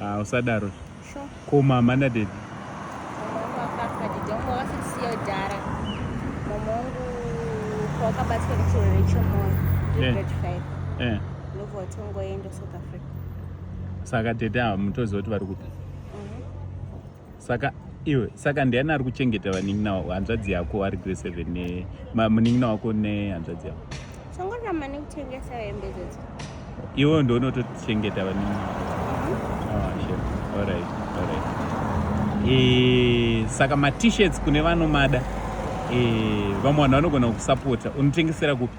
Ah, usadaro. Sure. Ko mama na daddy. Wakabatwa nechirwere chemoyo. Eh. Eh. Ndobva watongoenda South Africa. Saka tete ava mutoziva kuti vari kupi? saka iwe saka ndiani ari kuchengeta vanin'ina wako hanzvadzi yako ari grade seven ne ma- munin'ina wako nehanzvadzi yako Chongoramba nekutengesa hembe dzedzo. iwe ndoonotochengeta vanin'ina wako Ah, sure. Alright, alright. Eh, saka matishirts kune vanomada eh, vamwe vanhu vanogona kukusapota unotengesera kupi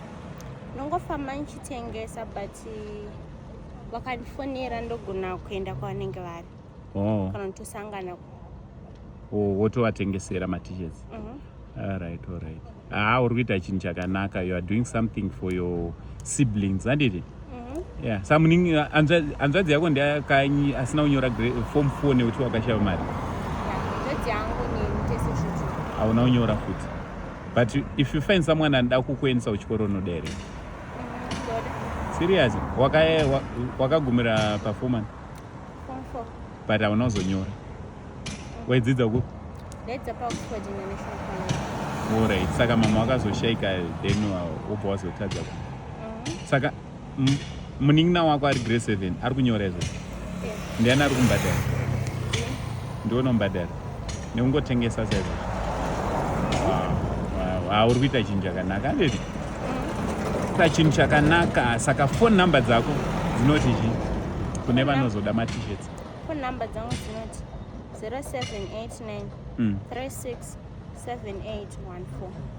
Ndongofamba ndichitengesa but eh, vakandifonera ndogona kuenda kwavanenge vari. oh. kana tosangana oh, wotovatengesera matishets mm -hmm. alright alright haa ah, uri kuita chinhu chakanaka you are doing something for your siblings handiti mm-hmm. yeah samuningi hanzvadzi yako ndiyakanyi asina kunyora form four nekuti wakashava mari hauna kunyora futi but if you find someone anoda kukuendesa kuchikoro unoda here mm, serious wakagumira waka performance but hauna kuzonyora waidzidza ku orit saka mama wakazoshaika then wobva wazotadza ku uh-huh. saka munin'ina wako ari grade seven ari kunyora izvo ndiani ari kumbadara ndiona umbadara nekungotengesa chaizvo hauri kuita chinhu chakanaka anditi kuita chinhu chakanaka saka phone number dzako dzinoti chi kune vanozoda matishets phone number dzangu dzinoti 0789 36 7814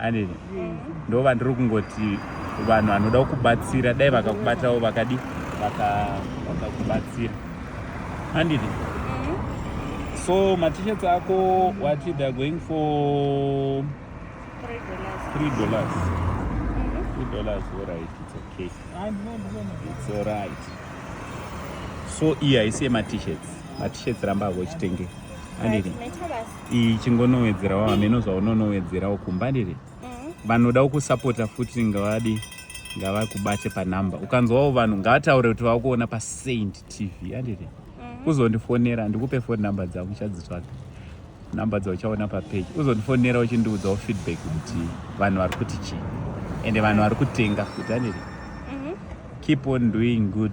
anini ndo vandiri kungoti vanhu vanoda kukubatsira dai vakakubatavo vakadi vakakubatsira anditi mm-hmm. so matishets ako wati theyare going for three dollars mm-hmm. three dollars allright its okay its allright so iyi haisi yematishets matishets ramba ako chitenge anditi iyi chingonowedzerawo hameno zvaunonowedzerawo kumba ndiri mm. vanoda ukusapota futi ngavadi ngavakubate panumber ukanzwawo vanhu ngavataure kuti vakuona pasaint tv andiri mm. uzondifonera ndikupe phone number dzangu chadzitsvaga number dzauchaona papeji uzondifonera uchindiudzawo feedback kuti vanhu vari kuti chii ende vanhu vari kutenga futi andiri mm-hmm. keep on doing good